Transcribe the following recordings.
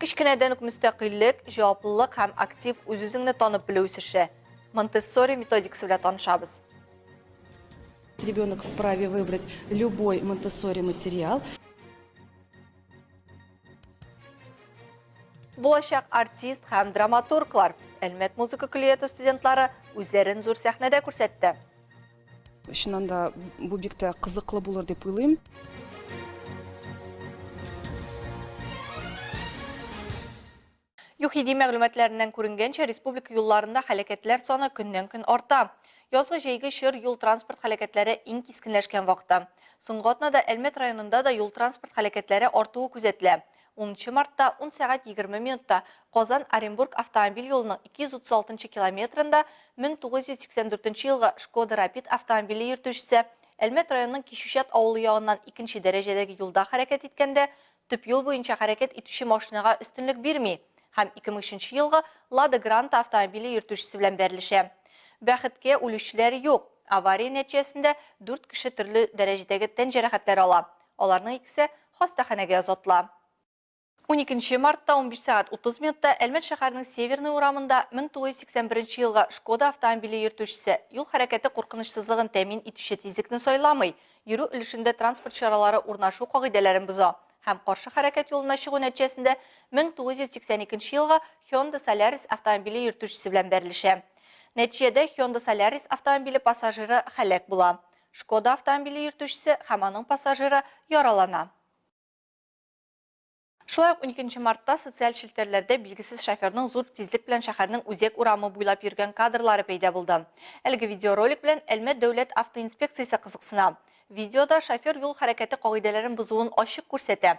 Кечкенәдән үк мөстәкыйльлек, җаваплылык һәм актив үз-үзеңне танып белү үсеше. Монтессори методикасы белән танышабыз. Ребенок вправе выбрать любой монтессори материал. Булачак артист һәм драматурглар Әлмәт музыка көллияте студентлары үзләрен зур сәхнәдә күрсәтте. Чыннан да бу бик тә кызыклы булыр дип уйлыйм. ЮХИДИ мәгълүматларыннан күренгәнчә, республика юлларында хәләкәтләр саны көннән-көн арта. Язгы-җәйге чор юл-транспорт хәләкәтләре иң кискенләшкән вакыты. Соңгы атнада Әлмәт районында да юл-транспорт хәләкәтләре артуы күзәтелә. Унынчы мартта ун сәгать егерме минутта Казан, Оренбург автомобиль юлының 236 нчы километрында 1984 елгы Шкода Рапид автомобиле йөртүчесе Әлмәт районының Кичүчат авылы ягыннан икенче дәрәҗәдәге юлда хәрәкәт иткәндә төп юл буенча хәрәкәт итүче машинага өстенлек бирми һәм 2003 елгы Лада Гранта автомобиле йөртүчесе белән бәрелешә. Бәхеткә, үлүчеләр юк. Авария нәтиҗәсендә дүрт кеше төрле дәрәҗәдәге тән җәрәхәтләре ала. Аларның икесе хастаханәгә озатыла. Уникенче мартта унбиш сәгать утыз минутта Әлмәт шәһәренең Северный урамында 1981 елгы Шкода автомобиле йөртүчесе, юл хәрәкәте куркынычсызлыгын тәэмин итүче тизлекне сайламый, йөрү өлешендә транспорт чаралары урнашу кагыйдәләрен боза һәм каршы хәрәкәт юлына чыгу нәтиҗәсендә 1982 елгы Hyundai Solaris автомобиле йөртүчесе белән бәрелешә. Нәтиҗәдә Hyundai Solaris автомобиле пассажиры һәлак була. Шкода автомобиле йөртүчесе һәм аның пассажиры яралана. Шулай ук уникенче мартта социаль челтәрләрдә билгесез шоферның зур тизлек белән шәһәрнең Үзәк урамы буйлап йөргән кадрлары пәйда булды. Әлеге видеоролик белән Әлмәт дәүләт автоинспекциясе кызыксына. Видеода шофер юл хәрәкәте кагыйдәләрен бозуын ачык күрсәтә.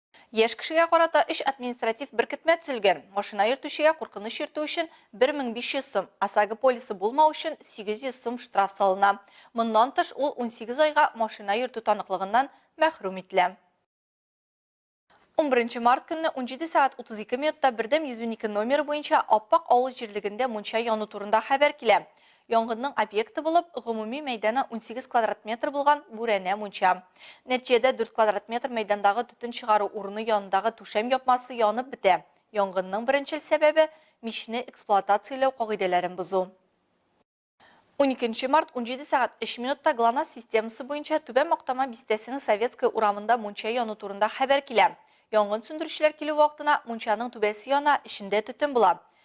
Яшь кешегә карата өч административ беркетмә төзелгән, машина йөртүчегә куркыныч йөртү өчен 1500 сум, ОСАГО полисы булмау өчен 800 сум штраф салына. Моннан тыш, ул 18 айга машина йөртү таныклыгыннан мәхрүм ителә. Унберенче март көнне унҗиде сәгать утыз ике минутта Бердәм йөз унике номеры буенча Аппак авыл җирлегендә мунча яну турында хәбәр килә. Янгынның объекты булып, гомуми мәйданы унсигез квадрат метр булган бүрәнә мунча. Нәтиҗәдә дүрт квадрат метр мәйдандагы төтен чыгару урыны янындагы түшәм япмасы янып бетә. Янгынның беренчел сәбәбе, мичне эксплуатацияләү кагыйдәләрен бозу. Уникенче март, унҗиде сәгать өч минутта Глонасс системасы буенча Түбән Мактама бистәсенең Советская урамында мунча яну турында хәбәр килә. Янгын сүндерүчеләр килү вакытына мунчаның түбәсе яна, эчендә төтен була.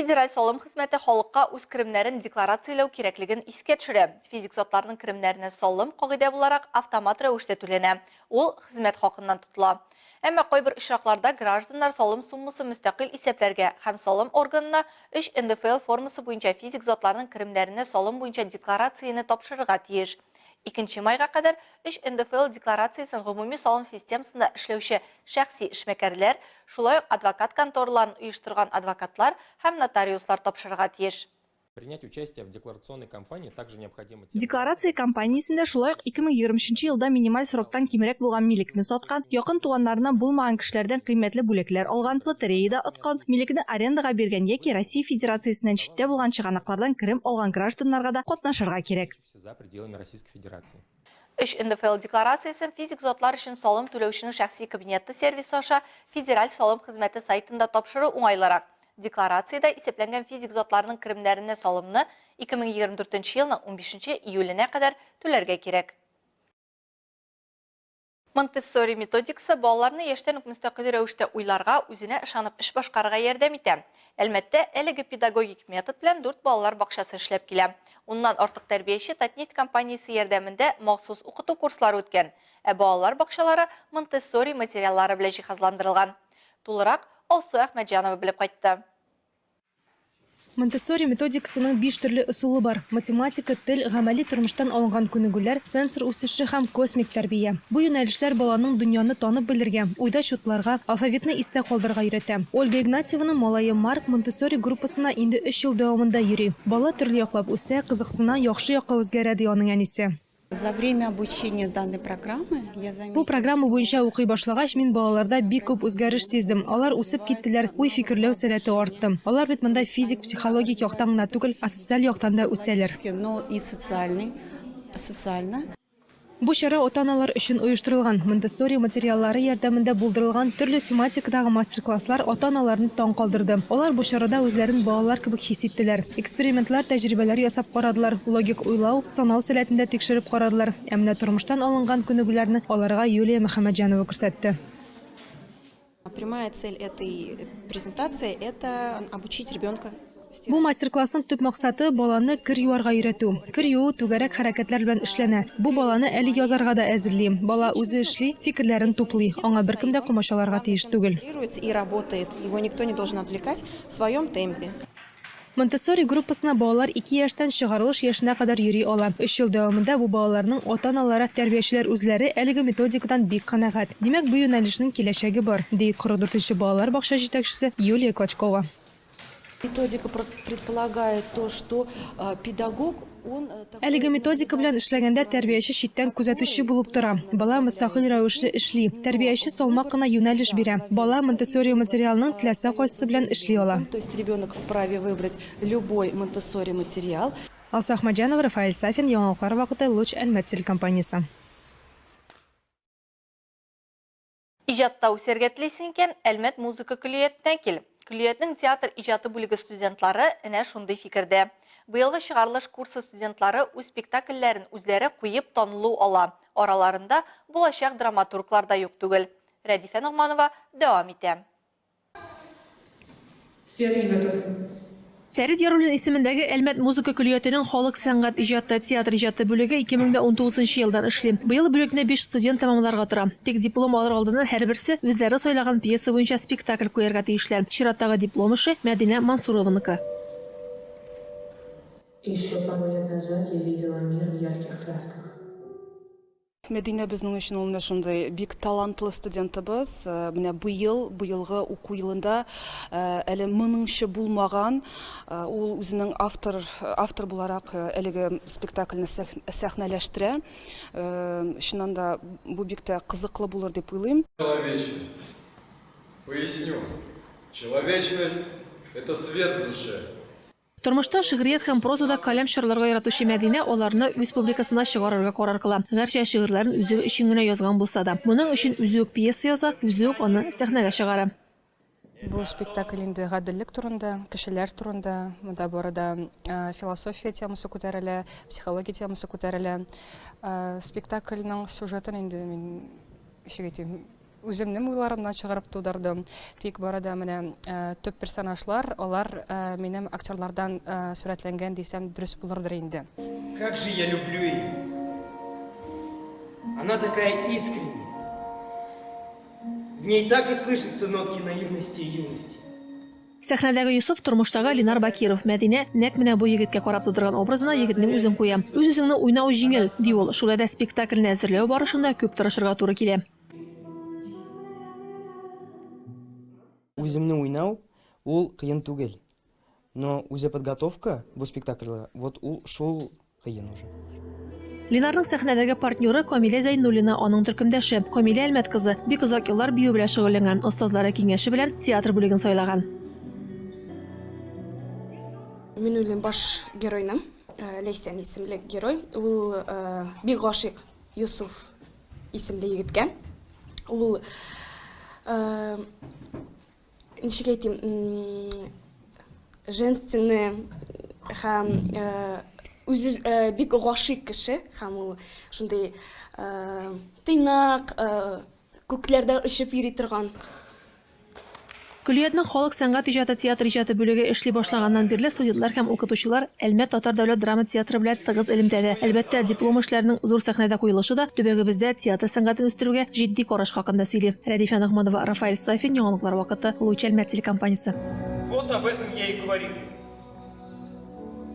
Федераль салым хезмәте халыкка үз керемнәрен декларацияләү кирәклеген искә төшерә. Физик затларның керемнәренә салым, кагыйдә буларак, автомат рәвештә түләнә, ул хезмәт хакыннан тотыла. Әмма кайбер очракларда гражданнар салым суммасын мөстәкыйль исәпләргә һәм салым органына өч НДФЛ формасы буенча физик затларның керемнәренә салым буенча декларацияне тапшырырга тиеш. Икенче майга кадәр өч НДФЛ декларациясен гомуми салым системасында эшләүче шәхси эшмәкәрләр, шулай ук адвокат контораларын оештырган адвокатлар һәм нотариуслар тапшырырга тиеш. Принять участие в декларационной кампании также необходимо тем. Декларация кампаниясендә шулай ук 2020 нче елда минималь сроктан кимрәк булган милекне саткан, якын туганнарыннан булмаган кешеләрдән кыйммәтле бүләкләр алган, лотереяда откан, милекне арендага биргән яки Россия Федерациясеннән читтә булган чыганаклардан керем алган гражданнарга да катнашырга кирәк. за пределами Российской Федерации. Өч НДФЛ декларациясен физик затлар өчен салым түләүченең шәхси кабинеты сервисы аша Федераль салым хезмәте сайтында тапшыру уңайлырак. Декларациядә исәпләнгән физик затларның керемнәренә салымны 2024 елның 15 июленә кадәр түләргә кирәк. Монтессори методикасы балаларны яшьтән үк мөстәкыйль рәвештә уйларга, үзенә ышанып эш башкарырга ярдәм итә. Әлмәттә әлеге педагогик метод белән дүрт балалар бакчасы эшләп килә. Уннан артык тәрбияче Татнефть компаниясе ярдәмендә махсус укыту курслары үткән. Ә балалар бакчалары монтессори материаллары белән җиһазландырылган. Тулырак Алсу Әхмәтҗанова белеп кайтты. Монтессори методикасының биш төрле ысулы бар, математика, тел, гамәли тормыштан алынган күнегүләр, сенсор үсеше һәм космик тәрбия. Бу юнәлешләр баланың дөньяны танып белергә, уйда чутларга, алфавитны истә калдырырга өйрәтә. Ольга Игнатьеваның малае Марк Монтессори группасына инде өч ел дәвамында йөри. Бала төрле яклап үсә, кызыксына, яхшы якка үзгәрә, ди аның әнисе. Бу программа буенча укый башлагач, мин балаларда бик күп үзгәреш сиздем. Алар үсеп киттеләр, уй-фикерләү сәләте артты. Алар бит монда физик, психологик яктан гына түгел, а социаль яктан да үсәләр. Бу чара ата-аналар өчен оештырылган. Монтессори материаллары ярдәмендә булдырылган төрле тематикадагы мастер-класслар ата-аналарны таң калдырды. Алар бу чарада үзләрен балалар кебек хис иттеләр. Экспериментлар, тәҗрибәләр ясап карадылар, логик уйлау, Санау сәләтен дә тикшереп карадылар. Ә менә тормыштан алынган күнегүләрне аларга Юлия Мөхәммәтҗанова күрсәтте. Прямая цель этой презентации – это обучить ребенка Бу мастер-классның төп максаты, баланы кер юарга өйрәтү. Кер юу түгәрәк хәрәкәтләр белән эшләнә. Бу баланы әле язарга да әзерли. Бала үзе эшли, фикерләрен туплый. Аңа беркем дә комачауларга тиеш түгел. Концентрируется и работает, его никто не должен отвлекать, в своем темпе. Монтессори группасына балалар ике яшьтән чыгарылыш яшенә кадәр йөри ала. Өч ел дәвамында бу балаларның ата-аналары, тәрбиячеләр үзләре әлеге методикадан бик канәгать. Димәк, бу юнәлешнең киләчәге бар, ди 44 нче балалар бакча җитәкчесе Юлия Клочкова. Методика предполагает то, что педагог. Әлеге методика белән эшләгәндә тәрбияче читтән күзәтүче булып тора. Бала мөстәкыйль рәвешле эшли. Тәрбияче салмак кына юнәлеш бирә. Бала монтессори материалының теләсә кайсысы белән эшли ала. Алсу Әхмәтҗанова, Рафаэль Сафин, яңалыклар вакыты, Луч Әлмәт телекомпаниясе. Иҗатта үсәргә телисең икән, Әлмәт музыка көллиятенә кил. Көллиятнең театр иҗаты бүлеге студентлары энә шундый фикердә. Быелгы чыгарылыш курсы студентлары үз спектакльләрен үзләре куеп танылу ала, араларында булачак драматурглар да юк түгел. Рәдифә Ногманова дәвам итә. Фәрит Яруллин исемендәге Әлмәт музыка көллиятенең халык сәнгать иҗаты, театр иҗаты бүлеге 2019 нчы елдан эшли. Быел бүлекне биш студент тәмамларга тора. Тик диплом алыр алдыннан һәрберсе үзләре сайлаган пьеса буенча спектакль куярга тиешләр. Чираттагы диплом эше, Мәдинә Мансурованыкы. Еще пару лет назад я видела мир в ярких красках. Мәдинә безнең өчен ул менә шундый бик талантлы студентыбыз. Менә быел, быелгы уку елында әле моныңчы булмаган, ул үзенең автор, автор буларак әлеге спектакльне сәхнәләштерә. Чыннан да бу бик тә кызыклы булыр дип уйлыйм. Человечность. Поясню. Человечность, это свет в душе. Тормышта, шигърият һәм прозада каләм чарларга яратучы Мәдинә аларны үз публикасына чыгарырга карар кыла. Гәрчә шигырьләрен үзе өчен генә язган булса да. Моның өчен үзе үк пьеса яза, үзе үк аны сәхнәгә чыгара. Бу спектакль инде гаделлек турында, кешеләр турында. Монда бары да философия темасы күтәрелә, психология темасы күтәрелә. Спектакльнең сюжетын инде мин ничек әйтим, Үземнем уйларымнан чыгарып тудырдым. Тик бары да менә төп персонажлар, алар минем актерлардан сурәтләнгән дисәм дөрес булырдыр инде. Как же я люблю ее! Она такая искренняя. В ней так и слышатся нотки наивности и юности. Сәхнәдәге Йосыф, тормыштагы Ленар Бакиров. Мәдинә нәкъ менә бу егеткә карап тудырган образына егетнең үзен куя. Үз-үзеңне уйнау җиңел, ди ул. Шулай да спектакльне әзерләү барышында күп тырышырга туры килә. Үземне уйнау ул кыен түгел. Но үзе подготовка бу спектакльгә, вот ул шул кыен уже. Линарның сәхнәдәге партнеры Камилә Зәйнуллина, аның төркемдәше. Камилә Әлмәт кызы бик озак еллар бию белән шөгыльләнгән, остазлары киңәше белән театр бүлеген сайлаган. Мин уйлыйм, баш геройның, Ләйсән исемле герой, ул бик гашыйк Йосыф исемле егеткә. Ул ничек әйтим, женственный һәм үзе бик гашыйк кеше һәм ул шундый тыйнак, күкләрдә очып йөри торган Көллиятнең халык сәнгать иҗаты, театр иҗаты бүлеге эшли башлаганнан бирле студентлар һәм укытучылар Әлмәт татар дәүләт драма театры белән тыгыз элемтәдә. Әлбәттә, диплом эшләренең зур сәхнәдә куелышы да төбәгебездә театр сәнгатен үстерүгә җитди караш хакында сөйли. Рәдифә Ногманова, Рафаэль Сафин, Яңалыклар вакыты, Луч Әлмәт телекомпаниясе. Вот об этом я и говорю.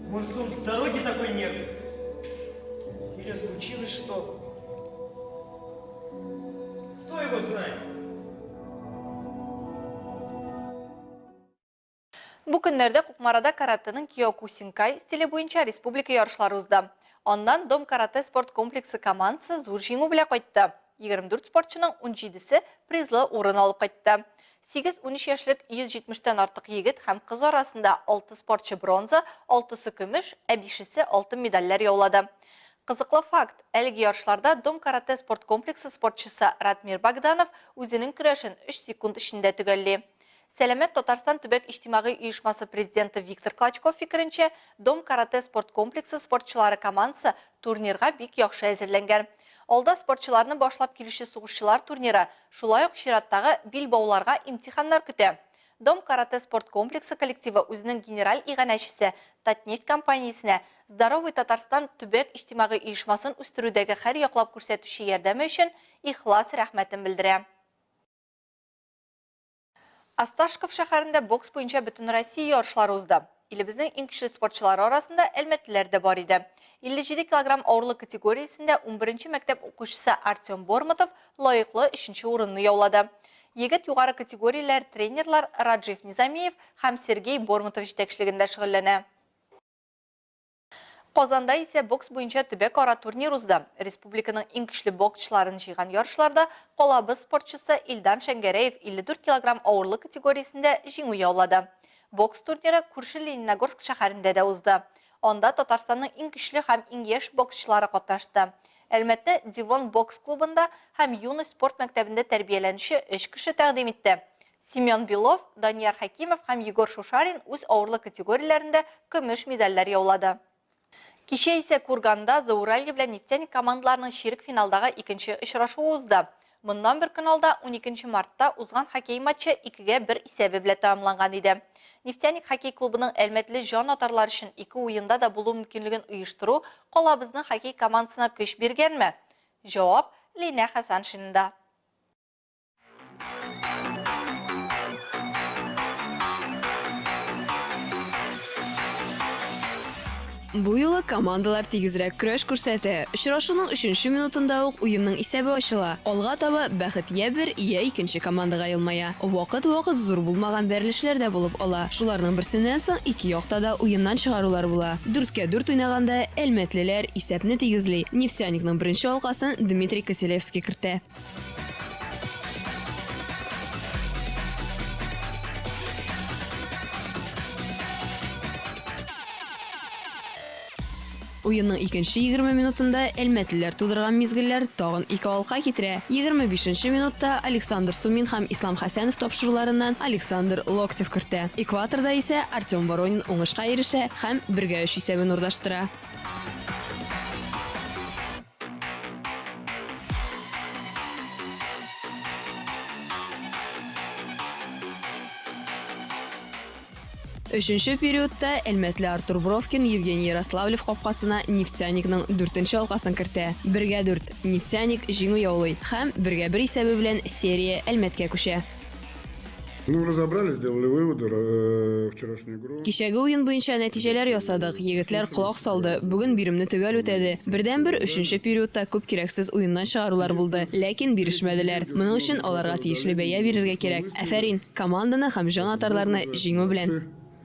Может он с дороги такой нервный? Или случилось что? Кто его знает? Бу көннәрдә Кукмарада каратэның киокусинкай стиле буенча республика ярышлары узды. Аннан Дом каратэ спорт комплексы командасы зур җиңү белән кайтты. 24 спортчының унҗидесе призлы урын алып кайтты. Сигез-унөч яшьлек 170 тән артык егет һәм кыз арасында алты спортчы бронза, алтысы көмеш, ә бишесе алтын медальләр яулады. Кызыклы факт, әлеге ярышларда Дом каратэ спорт комплексы спортчысы Радмир Богданов үзенең көрәшен өч секунд эчендә төгәлли. Сәламәт Татарстан төбәк иҗтимагый оешмасы президенты Виктор Клочков фикеренчә, Дом каратэ спорт комплексы спортчылары командасы турнирга бик яхшы әзерләнгән. Алда спортчыларны башлап килүче сугышчылар турниры, шулай ук чираттагы билбауларга имтиханнар көтә. Дом каратэ спорт комплексы коллективы үзенең генераль иганәчесе Татнефть компаниясенә Здоровый Татарстан төбәк иҗтимагый оешмасын үстерүдәге хәрьяклап күрсәтүче ярдәме өчен ихлас рәхмәтен белдерә. Осташков шәһәрендә бокс буенча бөтенроссия ярышлары узды. Илебезнең иң көчле спортчылары арасында әлмәтлеләр дә бар иде. 57 килограмм авырлык категориясендә унберенче мәктәп укучысы Артем Бормотов лаеклы өченче урынны яулады. Егет югары категорияләр тренерлар Раджив Низамиев һәм Сергей Бормотов җитәкчелегендә шөгыльләнә. Казанда исә бокс буенча төбәкара турнир узды. Республиканың иң көчле боксчыларын җыйган ярышларда калабыз спортчысы Илдан Шәңгәрәев 54 килограмм авырлык категориясендә җиңү яулады. Бокс турниры күрше Лениногорск шәһәрендә дә узды. Анда Татарстанның иң көчле һәм иң яшь боксчылары катнашты. Әлмәттә Девон бокс клубында һәм Юность спорт мәктәбендә тәрбияләнүче өч кеше тәкъдим итте. Семен Белов, Данияр Хәкимов һәм Егор Шушарин үз авырлык категорияләрендә көмеш медальләр яулады. Кичә исә Курганда Зауралье белән Нефтяник командаларының чирек финалдагы икенче очрашуы узды. Моннан бер көн алда, уникенче мартта, узган хоккей матчы икегә бер исәбе белән тәмамланган иде. Нефтяник хоккей клубының әлмәтле җан атарлар өчен ике уенда да булу мөмкинлеген оештыру калабызның хоккей командасына көч биргәнме? Җавап Линә Хәсәншинада. Бу юлы командалар тигезрәк көрәш күрсәтә. Очрашуның өченче минутында ук уенның исәбе ачыла. Алга таба бәхет йә бер, йә икенче командага елмая. Вакыт-вакыт зур булмаган бәрелешләр дә булып ала. Шуларның берсеннән соң ике якта да уеннан чыгарулар була. Дүрткә дүрт уйнаганда әлмәтлеләр исәпне тигезли, Нефтяникның беренче алкасын Дмитрий Котелевский кертә. Уенның икенче 20 минутында әлмәтлеләр тудырган мизгелләр тагын ике алка китерә. 25 минутта Александр Сумин һәм Ислам Хәсәнов тапшыруларыннан Александр Локтев кертә. Экваторда исә Артем Воронин уңышка ирешә һәм 1-3 исәбен урнаштыра. Өченче периодта Әлмәтле Артур Бровкин Евгений Ярославлев капкасына Нефтяникның дүртенче алкасын кертә. Бергә дүрт. Нефтяник җиңү яулый һәм бергә бер исәбе белән серия Әлмәткә күчә. Кичәге уен буенча нәтиҗәләр ясадык, егетләр колак салды, бүген биремне төгәл үтәде. Бердәнбер өченче периодта күп кирәксез уеннан чыгарулар булды, ләкин бирешмәделәр. Моның өчен аларга тиешле бәя бирергә кирәк. Афәрин, команданы һәм җан атарларны җиңү белән!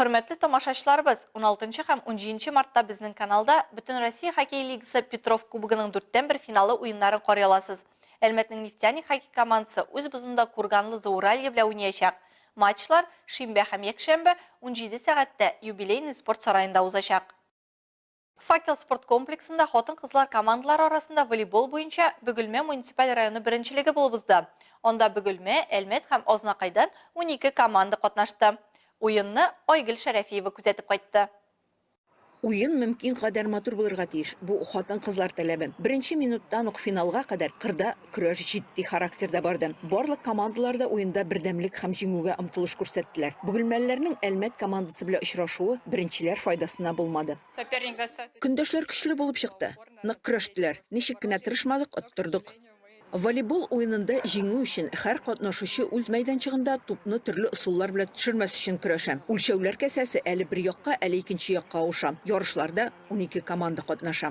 Хөрмәтле тамашачыларыбыз, уналтынчы һәм унҗиенче мартта безнең каналда Бөтенроссия хоккей лигасы Петров кубогының дүрттән бер финалы уеннарын карый аласыз. Әлмәтнең Нефтяник хоккей командасы үз бозында Курганлы Зауралье белән уйнаячак. Матчлар шимбә һәм якшәмбе, унҗиде сәгатьтә, юбилейный спорт сараенда узачак. Факел спорт комплексында хатын-кызлар командалары арасында волейбол буенча Бөгелмә муниципаль районы беренчелеге булып узды. Анда Бөгелмә, Әлмәт һәм Азнакайдан унике команда катнашты. Уенны Айгөл Шәрәфиева күзәтеп кайтты. Уен мөмкин кадәр матур булырга тиеш, бу хатын-кызлар таләбе. Беренче минуттан ук финалга кадәр кырда Көрәш җитди характерда барды. Барлык командалар да уенда бердәмлек һәм җиңүгә омтылыш күрсәттеләр. Бөгелмәлеләрнең Әлмәт командасы белән очрашуы беренчеләр файдасына булмады. Көндәшләр көчле булып чыкты, нык көрәштеләр. Ничек кенә тырышмадык, оттырдык. Волейбол уенында җиңү өчен һәр катнашучы үз мәйданчыгында тупны төрле ысуллар белән төшермәс өчен көрәшә. Үлчәүләр касәсе әле бер якка, әле икенче якка авыша. Ярышларда унике команда катнаша.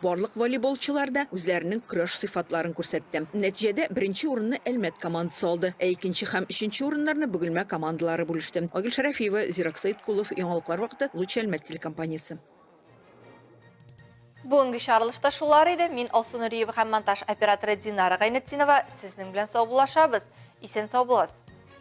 Барлык волейболчылар да үзләренең көрәш сыйфатларын күрсәтте. Нәтиҗәдә беренче урынны Әлмәт командасы алды, ә икенче һәм өченче урыннарны Бөгелмә командалары бүлеште. Айгөл Шәрәфиева, Зирак Сәеткулов, Яңалыклар вакыты, Луч Әлмәт телекомпаниясе. Бүгенге чыгарылышта шулар иде. Мин Алсу Нуриева һәм монтаж операторы Динара Гайнетдинова сезнең белән саубуллашабыз. Исән-сау булыгыз!